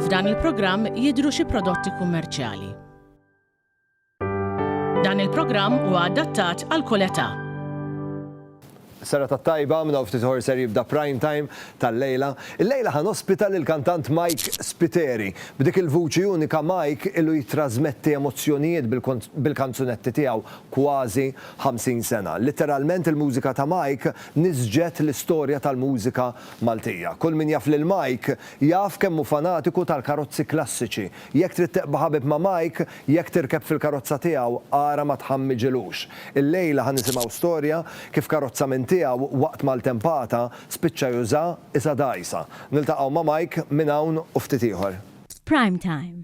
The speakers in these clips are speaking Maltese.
F'dan il-programm jidhru xi prodotti kummerċjali. Dan il-programm huwa adattat għal kull età. Serata tajba, minn hawn ftit ħor ser jibda prime time tal-lejla. Il-lejla ħan ospita lil kantant Mike Spiteri. B'dik il-vuċi unika Mike illu jitrasmetti emozzjonijiet bil-kanzunetti tiegħu kważi 50 sena. Litteralment il-mużika ta' Mike niżġet l-istorja tal-mużika Maltija. Kull min jaf lil Mike jaf kemm hu fanatiku tal-karozzi klassiċi. Jekk trid tiqba' ħabib ma' Mike, jekk tirkeb fil-karozza tiegħu, ara ma tħammiġilux. Illejla ħa nisimgħu storja kif karozza minn tiegħu waqt maltempata spiċċa juża isha dgħajsa. Niltaqgħu ma' Mike minn hawn u ftit ieħor. F'Prime Time,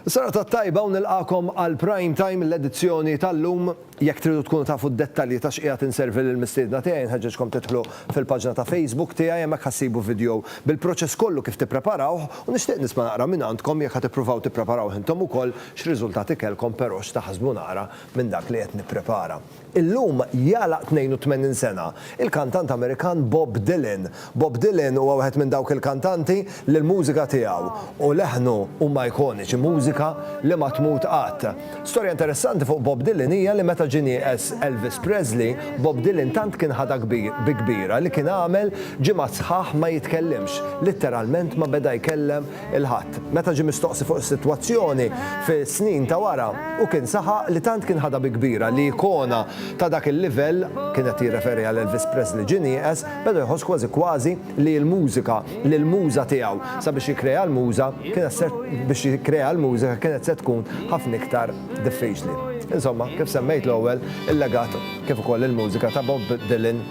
Serata t-tajba u nilqagħkom għal Prime Time l-edizzjoni tal-lum. Jekk tridu tkunu tafu d-dettalji ta' x'qiegħed inservi lill-mistiedna tiegħi nħeġġeġkom tidħlu fil-paġna ta' Facebook tiegħi hemmhekk ħa ssibu vidjow bil-proċess kollu kif tippreparawh u nixtieq nisma' naqra minn għandkom jekk ħa tippruvaw tippreparawh intom ukoll x'riżultati kellkom però x'taħsbu naqra minn dak li qed nipprepara. Illum jagħlaq 82 sena il-kantant Amerikan Bob Dylan. Bob Dylan huwa wieħed minn dawk il-kantanti li l-mużika tiegħu u leħnu huma ikoniċi, mużika li ma tmut qatt. Storja interessanti fuq Bob Dylan hija li meta ġie nieqes Elvis Presley, Bob Dylan tant kien ħadha bi kbira li kien għamel ġimgħat sħaħ ma jitkellimx, litteralment ma beda jkellem il-Ħadd. Meta ġie mistoqsi fuq is-sitwazzjoni fis-snin ta' wara, hu kien saħaq li tant kien ħadha bi kbira li ikona ta' dak il-livell, kien qed jirreferi għal Elvis Presley ġie nieqes, beda jħoss kważi kważi li l-mużika, li l-muża tiegħu sabiex jikkrea l-muża kienet se biex jikkrea l-mużika kienet se tkun ħafna iktar diffiċli. Insomma, kif semmejt l-ewwel, il-legat kif ukoll il-mużika ta' Bob Dylan,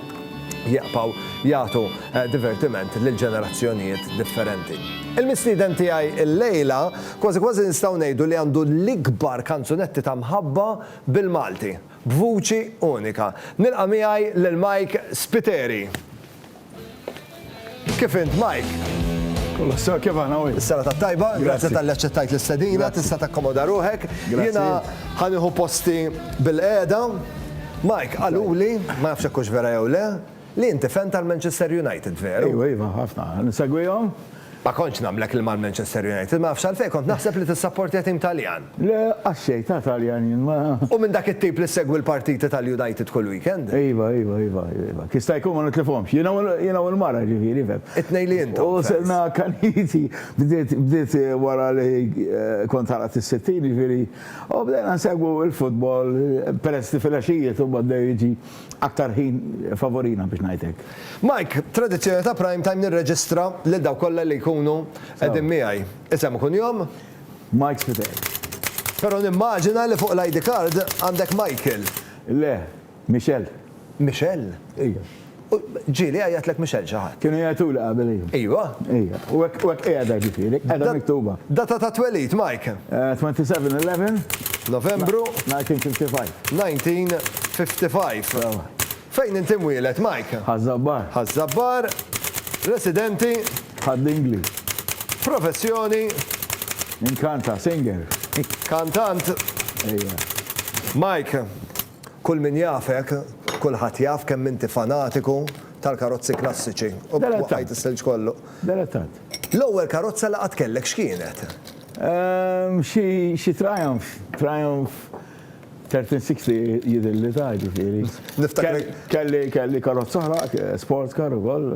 jieqpaw jagħtu divertiment lil ġenerazzjonijiet differenti. Il-mistieden tiegħi illejla kważi kważi nistgħu ngħidu li għandu l-ikbar kanzunetti ta' mħabba bil-Malti, b'vuċi unika. Nilqa' miegħi lil Mike Spiteri. Kif int, Mike? Kollox sew kif aħna u Is-sena ta' tajba, grazzi tal-li aċċettajt l-istedina, tista' takkomoda ruħek. Jiena ħanieħu posti bil-qiegħda. Mike, qaluli, ma nafx hekk hux vera jew le, li inti fan tal-Manchester United, veru? Iva, iva, ħafna. Insegwihom. Ma kontx nagħmlek il mal-Manchester United, ma nafx għalfejn, kont naħseb li tissapportja tim Taljan. Le, għax-xejn, ta' Taljan jien, ma. U minn dak it-tip li ssegwi l-partiti tal-United kull weekend. Iva, iva, iva, iva. Jista' jkun ma nitlifhomx. Jiena u l-mara, ġifieri, fhemm. It-tnejn li intom, fans. U sirna akkaniti. Bdiet, bdiet wara li kont għalaqt is-sittin, jiġifieri, u bdejna nsegwu l-futbol, peress li filgħaxijiet imbagħad bdew jiġi Aktar ħin favorina biex ngħid hekk. Mike, tradizzjoni ta' Prime Time nirreġistra lil dawk kollha li jkunu qegħdin miegħi. Isem u kunjom? Mike Spiteri. Però nimmaġina li fuq l-ID card għandek Michael. Le, Michel. Michel? Ija. U ġieli jgħajjatlek Michel xi ħadd? Kienu jgħajtuli qabel ija. Ijwa? Ija. U hekk u hekk qiegħda ġifieri, qiegħda miktuba. Data tat-twelid, Mike? 27/11. Novembru. 1955. 1955. Fejn inti mwieled, Mike? Ħaż-Żabbar. Ħaż-Żabbar. Residenti? Ħad-Dingli. Professjoni? Inkanta, singer. Kantant? Ejja. Mike, kull min jafek, kulħadd jaf kemm inti fanatiku tal-karozzi klassiċi. U b'hekk waqqajt is-silġ kollu. Delettat. L-ewwel karozza li qatt kellek x'kienet? Xi Triumph. Triumph Thirteen sixty jidhirli ta' ġifieri. Niftakrek. Kelli kelli karozza oħra, sports car ukoll.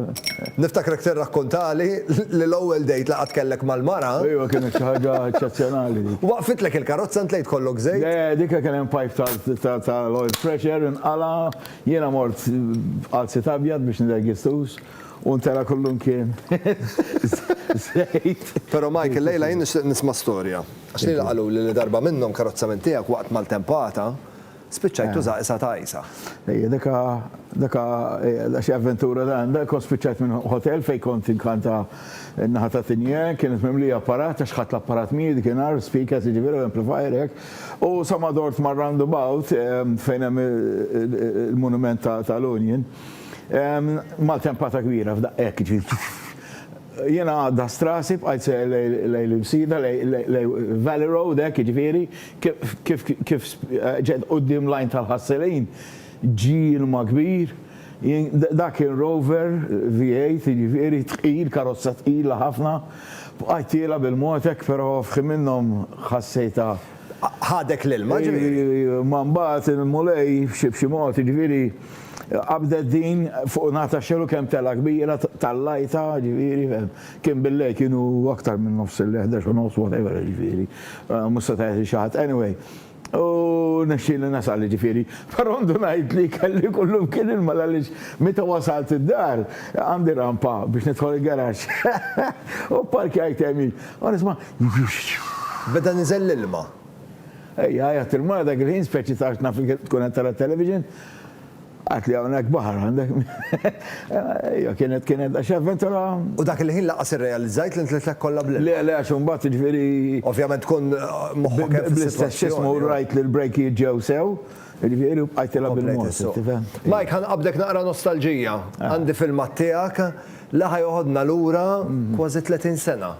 Niftakrek tirrakkuntali li l-ewwel date li qatt kellek mal-mara. Ejwa kienet xi ħaġa eċċezzjonali dik. Waqfitlek il-karozza int l-għid kollok żejt? Le, dik kien hemm pipe tal-oil pressure inqala', jiena mort b'qalzit abjad biex nidher ghistouz u ntela' kullimkien żejt. Però Mike illejla jien nixtieq nisma' storja. Għax lili qaluli li darba minnhom karozza minn tiegħek waqt maltempata spiċċajt tuża qisha ta' għajsa. Ejja, dak ha, dak ha, ejja, da xi avventura dan, da kont spiċċajt minn hotel fejn kont inkanta n-naħa ta' Tigne, kienet mimlija apparat għax ħadt l-apparat miegħi dik inhar, speakers jiġifieri u amplifier hekk, u sa ma dort mar-roundabout fejn hemm il-monument tal-Union, maltempata kbira f'daqqa hekk jiġifieri. Jiena għaddast rasi, bqajt seher lejn l-Imsida, lejn Valley Road hekk jiġifieri, kif ġejt quddiem l-għajn tal-ħassilin, ġie ilma kbir, dak kien Rover V8 jiġifieri tqil, karozza tqila ħafna, bqajt tiela' bil-mod hekk però f'ħin minnhom ħassejtha. ħadek l-ilma, ġifieri. Imma mbagħad il-Mulej b'xi mod, jiġifieri, qabdet din fuq in-naħa tax-xena u kemm telgħa kbira tallajtha, jiġifieri, fehem. Kien bil-lejl, kienu aktar minn nofs il-lejl, ħdax u nofs, whatever, jiġifieri. Mhux seta' jgħidli xi ħadd. Anyway, u rnexxieli nasal, jiġifieri. Però ndunajt li kelli kullumkien ilma għaliex meta wasalt id-dar, għandi rampa biex nidħol il-garaxx. U pparkjajt hemm jien. Ara isma' xxxxx! Beda niżel l-ilma. Ejja, għajat il-mara dak il-ħin, speċi ta' għax naf li tkun qed tara t-television. Għidtli hawnhekk baħar għandek. Ejja, kienet, kienet daqsxejn avventura. U dak il-ħin lanqas irrealizzajt li ntlitlek kollha bl-ilma. Le, le, għax imbagħad jiġifieri. Ovvjament tkun moħħok hemm fis-sitwazzjoni. Bl-istess ismu rajt li l-brejkijiet ġew sew. Jiġifieri u bqajtilha bil-mors, tifhem? Mike, ħa nqabbdek naqra nostalġija. Għandi filmat tiegħek li ħa joħodna lura kważi 30 sena.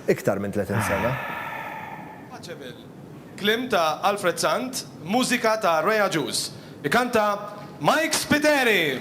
Iktar minn 30 sena. Paceable. Kliem ta' Alfred Sant, mużika ta' Ray Agius. Ikanta Mike Spiteri!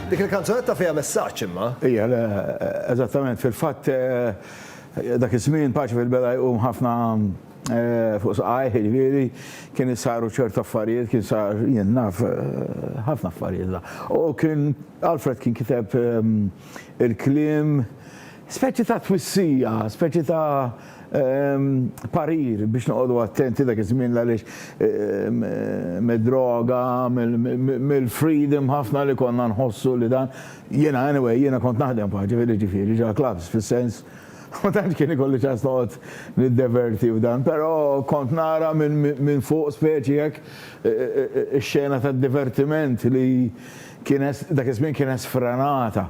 Dik il-kanzunetta fiha messaġġ imma. Hija, le, eżattament. Fil-fatt dak iż-żmien Paċi fil-Bela jqum ħafna fuq saqajh, jiġifieri kien isaru ċertu affarijiet, kien sar, jien naf, ħafna affarijiet la. U kien, Alfred kien kiteb il-kliem, speċi ta' twissija, speċi ta'. parir biex noqogħdu attenti dak iż-żmien għaliex mid-droga, mill-freedom ħafna li konna nħossu li dan. Jiena anyway, jiena kont naħdem f'ħaġa ġifieri ġifieri ġa clubs fis-sens ma tantx kien ikolli ċans noqgħod niddeverti f'dan, però kont nara minn fuq speċi hekk ix-xena tad-divertiment li kienet dak iż-żmien kienet sfrenata.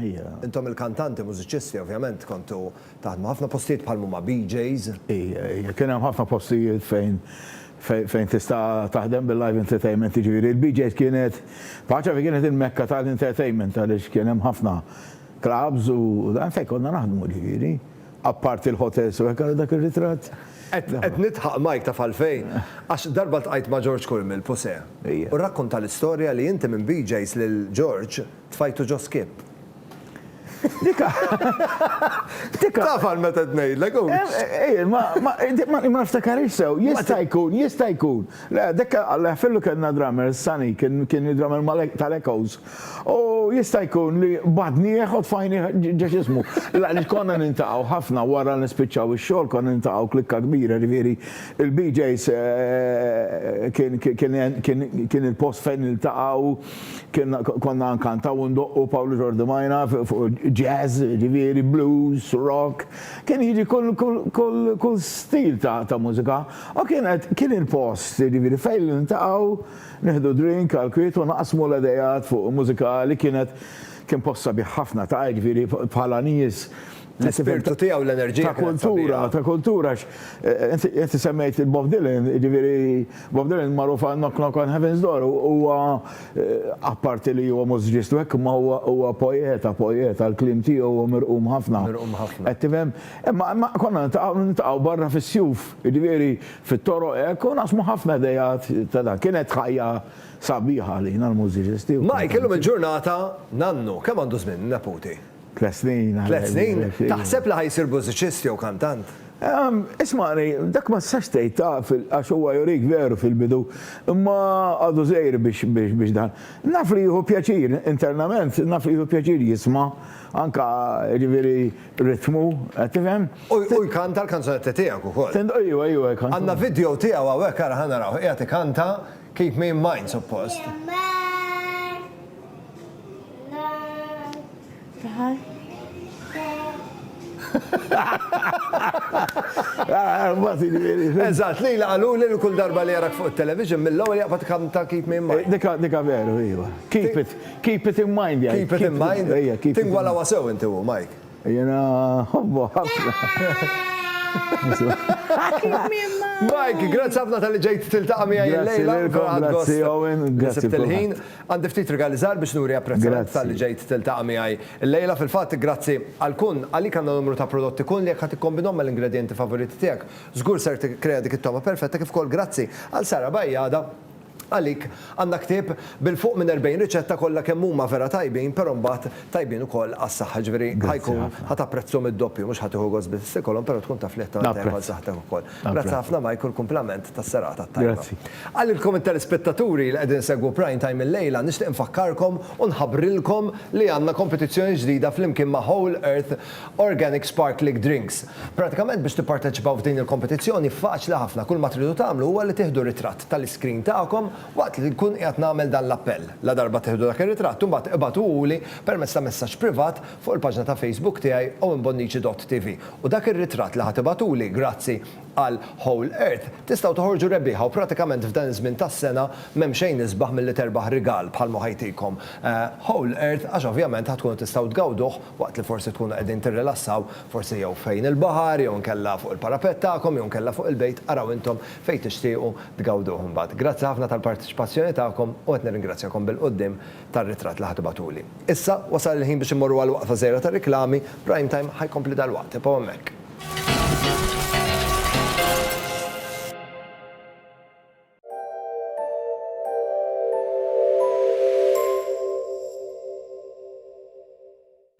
Hija. Intom il-kantanti, mużiċisti, ovvjament kontu taħdmu ħafna postijiet bħal mhuma BJ's. Hija, hija. Kien hemm ħafna postijiet fejn fejn tista' taħdem bil-live entertainment, jiġifieri l-BJ's kienet paċa fejn kienet il-mekka tal-entertainment għaliex kien hemm ħafna clubs u dan fejn konna naħdmu ġifieri. Apparti l-hotels u hekk ara dak ir-ritratt. Qed qed nidħaq Mike taf għalfejn? Għax darba ltqajt ma' George Curmel, Puse. Hija. U rrakkonta l-istorja li inti minn BJ's lil George Tfajtu ġo skip. Dika. Dika. Taf għal meta tnejdlek u. Ej, ma ma ftakarix sew, jista' jkun, jista' jkun. Le, dika għallah fillu kellna drummer, Sani, kien kien drummer tal-Echoes. U jista' jkun li badni jeħod fajni ġex ismu. La li konna nintaqgħu ħafna wara nispiċċaw ix-xogħol konna nintaqgħu klikka kbira ġifieri il-BJs kien il-post fejn niltaqgħu. Kienna konna nkantaw u ndoqqu Pawlu Ġordi Majna fuq jazz, ġifieri blues, rock, kien jiġi kull stil ta' mużika u kienet kien il-post ġifieri fejn niltaqgħu nieħdu drink għall-kwiet u naqsmu l-idejat fuq mużika li kienet kien post sabiħ ħafna ta' ġifieri bħala nies L-ispirtu tiegħu, l-enerġija. Ta' kultura, ta' kultura, għax inti semmejt il-Bob Dylan, jiġifieri Bob Dylan magħruf għal Knock Knock on Heaven's Door, huwa apparti li huwa mużiċist u hekk imma huwa poeta, poeta, l-kliem tiegħu huwa mirqum ħafna. Mirqum ħafna. Qed tifhem? Imma konna niltaqgħu, niltaqgħu barra fis-sjuf, jiġifieri fit-toroq hekk u naqsmu ħafna ideat ta' dak. Kienet ħajja sabiħa għalina l-mużiċisti. Mike, illum il-ġurnata nannu, kemm għandu żmien neputi? Tliet snin. Tliet snin? Taħseb li ħa jsir mużiċist jew kantant? Ismagħni, dak ma tistax tgħid taf għax huwa jurik veru fil-bidu, imma għadu żgħir biex dan. Naf li jieħu pjaċir internament, naf li jieħu pjaċir jisma' anke jiġifieri ritmu, qed tifhem? U jkanta l-kanzunetti tiegħek ukoll. Ejwa, ejwa jkanta. Għandna video tiegħu hawnhekk ara ħa narawh, qiegħed ikanta Keep Me In Mind suppost. Eżatt, li jlaqalu li kull darba li jarak fuq il-television mill-ewwel jaqbad kam ta' keep me in mind. Dika, dika veru, iva. Keep it, keep it in mind jgħid. Keep it in mind. Ejja, keep it. Tingwalawa sew inti u Mike. Jiena nħobbu ħafna. Mike, grazzi ħafna tal-li ġejt tiltaqa' miegħi illejla. Grazzi lilkom, grazzi Owen, grazzi. Sibt il-ħin. Għandi ftit rigali żgħar biex nuri apprezzament talli ġejt tiltaqa' miegħi llejla. Fil-fatt, grazzi għal Kun, għalik għandna numru ta' prodotti Kun li jekk ħa tikkombinhom mal-ingredjenti favoriti tiegħek, żgur ser tikkrea dik it-togħma perfetta kif ukoll grazzi għal Sara Bajada, għalik għandna ktieb bil-fuq minn 40 riċetta kollha kemm huma vera tajbin però mbagħad tajbin ukoll għas-saħħa, ġifieri ħa jkun ħa tapprezzhom id-doppju, mhux ħa tieħu gost biss ikolhom però tkun taf li qed tagħmel tajjeb għal saħħtek ukoll. Grazzi ħafna Mike u l-kumplament tas-serata t-tajba. Għalilkom it-telespettaturi li qegħdin isegwu Prime Time illejla nixtieq infakkarkom u nħabbrilkom li għandna kompetizzjoni ġdida flimkien ma' Whole Earth Organic Sparkling Drinks. Pratikament biex tipparteċipaw f'din il-kompetizzjoni faċli ħafna kulma tridu tagħmlu huwa li tieħdu ritratt tal-iscreen tagħkom waqt li nkun qiegħed nagħmel dan l-appell. Ladarba tieħdu dak ir-ritratt imbagħad ibagħtuhuli permezz ta' messaġġ privat fuq il-paġna ta' Facebook tiegħi owenbonnici.tv u dak ir-ritratt li ħa tibagħtuli grazzi għal Whole Earth tistgħu toħorġu rebbieħa u pratikament f'dan iż-żmien tas-sena m'hemm xejn isbaħ milli terbaħ rigal bħal ma ħa jtikom Whole Earth għax ovvjament ħa tkunu tistgħu tgawduh waqt li forsi tkunu qegħdin tirrilassaw forsi jew fejn il-baħar jew inkella fuq il-parapett tagħkom jew inkella fuq il-bejt araw intom fejn tixtiequ tgawduh imbagħad. Grazzi ħafna tal-parteċipazzjoni tagħkom u qed nirringrazzjakom bil-quddiem tar-ritratt li ħa tibgħatuli. Issa, wasal il-ħin biex immorru għal waqfa żgħira tar-riklami, Prime Time ħa jkompli dalwaqt, ibqgħu hemmhekk.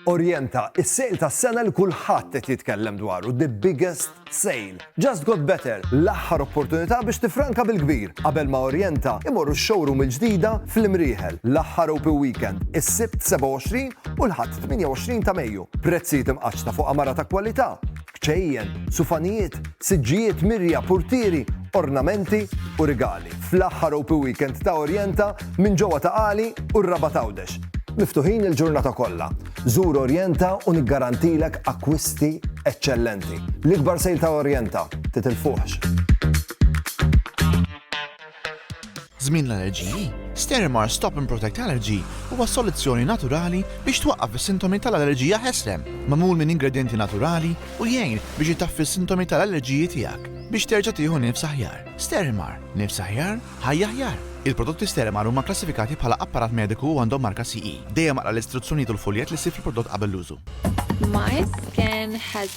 Orjenta, is-sale tas-sena li kulħadd qed jitkellem dwaru, the biggest sale. Just Got Better, l-aħħar opportunità biex tiffranka bil-kbir qabel ma Orjenta imorru x-showroom il-ġdida fl-Imrieħel, l-aħħar Open Weekend, is-Sibt 27 u l-Ħadd 28 ta' Mejju. Prezzijiet imqaċċta fuq għamara ta' kwalità. kċejjen, sufanijiet, siġġijiet, mirja, purtieri, ornamenti u rigali, fl-aħħar Open Weekend ta' Orjenta minn ġewwa ta' Qali u r-Rabat Għawdex. Miftuħin il-ġurnata kollha. Żur Orjenta u niggarantilek akkwisti eċċellenti. L-ikbar sale ta' Orjenta, titilfuhx! Żmien l-allerġiji, Stérimar Stop and Protect Allergy huwa soluzzjoni naturali biex twaqqaf is-sintomi tal-allerġija ħesrem, magħmul minn ingredjenti naturali u jgħin biex itaffi s-sintomi tal-allerġiji tiegħek biex terġa' tieħu nifs aħjar. Stérimar, nifs aħjar, ħajja aħjar! Il-prodotti Stérimar huma kklassifikati bħala apparat mediku u għandhom marka CE. Dejjem aqra l-istruzzjonijiet u l-fuljett li ssib fil-prodott qabel l-użu. MySkin has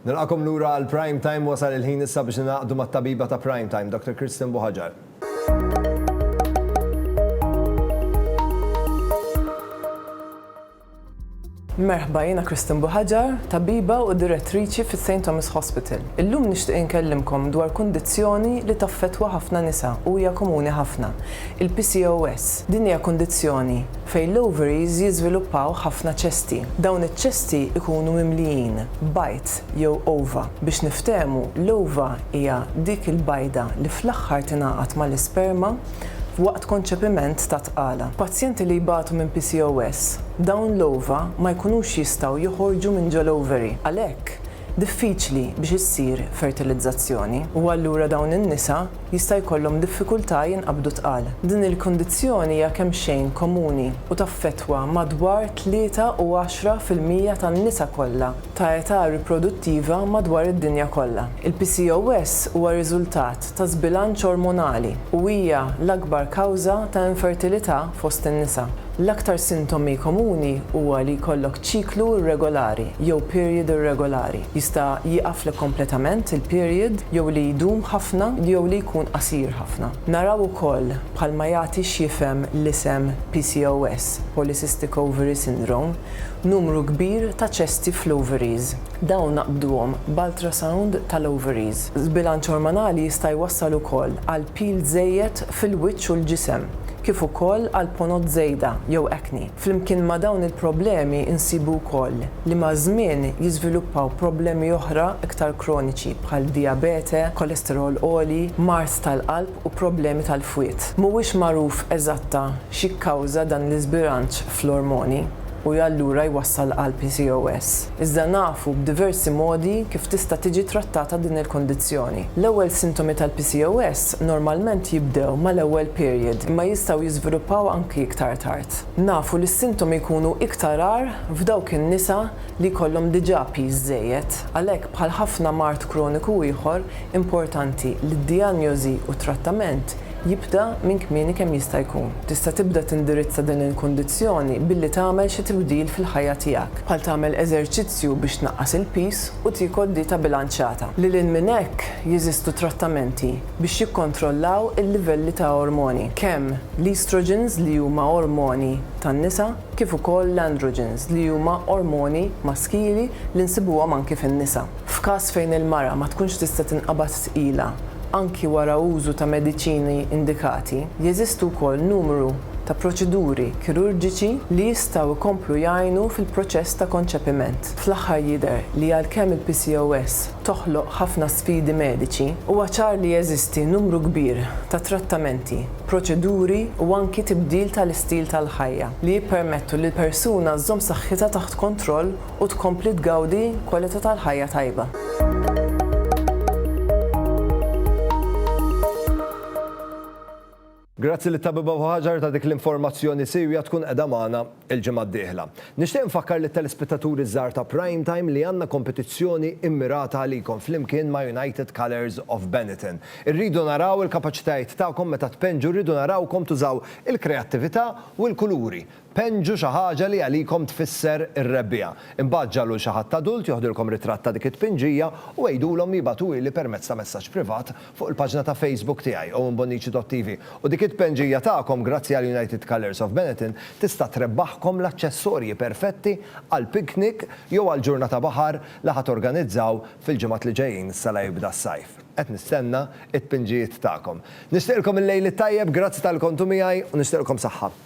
Nilqakom lura għal Prime Time wasal il-ħin issa biex naqdu mat-tabiba ta' Prime Time, Dr. Kristen Buħaġar. Merħba jiena Kristen Buħaġar, tabiba u direttriċi fis St. Thomas Hospital. Illum nixtieq inkellimkom dwar kundizzjoni li taffetwa ħafna nisa u hija komuni ħafna. Il-PCOS. Din hija kundizzjoni fejn l-ovaries jiżviluppaw ħafna ċesti. Dawn iċ-ċesti jkunu mimlijin b'bajd jew ova. Biex niftehmu, l-ova hija dik il-bajda li fl-aħħar tingħaqad mal-isperma waqt konċepiment ta' tqala. Pazjenti li jbatu minn PCOS, dawn l-ova ma jkunux jistgħu joħorġu minn ġol-ovary. Għalhekk, diffiċli biex issir fertilizzazzjoni u allura dawn in-nisa jista' jkollhom diffikultà jinqabdu tqal. Din il-kundizzjoni hija kemxejn komuni u taffettwa madwar tlieta u għaxra fil-mija tan-nisa kollha ta' età riproduttiva madwar id-dinja kollha. Il-PCOS huwa riżultat ta' żbilanċ ormonali u hija l-akbar kawża ta' infertilità fost in-nisa. L-aktar sintomi komuni huwa li jkollok ċiklu irregolari jew period irregolari, jista' jieqaflek kompletament il-period jew li jdum ħafna jew li jkun qasir ħafna. Naraw ukoll bħalma jagħti x'jifhem l-isem PCOS, Polycystic Ovary Syndrome, numru kbir ta' ċesti fl-ovaries. Dawn naqbduhom b'ultrasound tal-ovaries. Żbilanċ ormonali jista' jwassal ukoll għal pil żejjed fil-wiċċ u l-ġisem, kif ukoll għal ponot żejda jew acne. Flimkien ma' dawn il-problemi nsibu wkoll li maż-żmien jiżviluppaw problemi oħra iktar kroniċi bħal dijabete, kolesterol għoli, mard tal-qalb u problemi tal-fwied. Mhuwiex magħruf eżatta x'jikkawża dan l-iżbilanċ fl-ormoni u allura jwassal għal PCOS. Iżda nafu b'diversi modi kif tista' tiġi trattata din il-kundizzjoni. L-ewwel sintomi tal-PCOS normalment jibdew mal-ewwel period imma jistgħu jiżviluppaw anki iktar tard. Nafu li s-sintomi jkunu iktar agħar f'dawk in-nisa li jkollhom diġà piż żejjed, għalhekk bħal ħafna mard kroniku ieħor importanti li d-dijanjosi u t-trattament jibda minn kmieni kemm jista' jkun. Tista' tibda tindirizza din il-kundizzjoni billi tagħmel xi tibdil fil-ħajja tiegħek, bħal tagħmel eżerċizzju biex tnaqqas il-piż u tiekol dieta bilanċjata. Lil hinn minn hekk, jeżistu trattamenti biex jikkontrollaw il-livelli ta' ormoni, kemm l-estrogens li huma ormoni tan-nisa kif ukoll l-androgens li huma ormoni maskili li nsibuhom anki fin-nisa. F'każ fejn il-mara ma tkunx tista' tinqabad tqila anki wara użu ta' mediċini indikati, jeżistu wkoll numru ta' proċeduri kirurġiċi li jistgħu jkomplu jgħinu fil-proċess ta' konċepiment. Fl-aħħar jidher li għalkemm il-PCOS toħloq ħafna sfidi mediċi, huwa ċar li jeżisti numru kbir ta' trattamenti, proċeduri u anki tibdil tal-istil tal-ħajja li jippermettu lill-persuna żżomm saħħitha taħt kontroll u tkompli tgawdi kwalità tal-ħajja tajba. Grazzi lit-Tabiba Buhaġar ta' dik l-informazzjoni siewja tkun qiegħda magħna l-ġimgħa d-dieħla. Nixtieq infakkar lit-telespettaturi ż-żgħar ta' Prime Time li għandna kompetizzjoni mmirata għalikom flimkien ma' United Colours of Benetton. Irridu naraw il-kapaċitajiet tagħkom meta tpenġu, rridu narawkom tużaw il-kreattività u l-kuluri Penġu xi ħaġa li għalikom tfisser ir-rebbiegħa. Imbagħad ġagħlu 'l xi ħadd adult joħdilkom ritratt ta' dik it-tpinġija u għidulhom li jibagħtuhieli permezz ta' messaġġ privat fuq il-paġna ta' Facebook tiegħi, owenbonnici.tv. U dik it-tpenġija tagħkom, grazzi għal United Colours of Benetton, tista' trebbaħkom l-aċċessorji perfetti għal piknik jew għal ġurnata baħar li ħa torganizzaw fil-ġimgħat li ġejjin issa la jibda s-sajf. Qed nistenna t-tpinġijiet tagħkom. Nixtieqilkom il-Lejl it-Tajjeb, grazzi talli kontu miegħi u nixtieqilkom saħħa.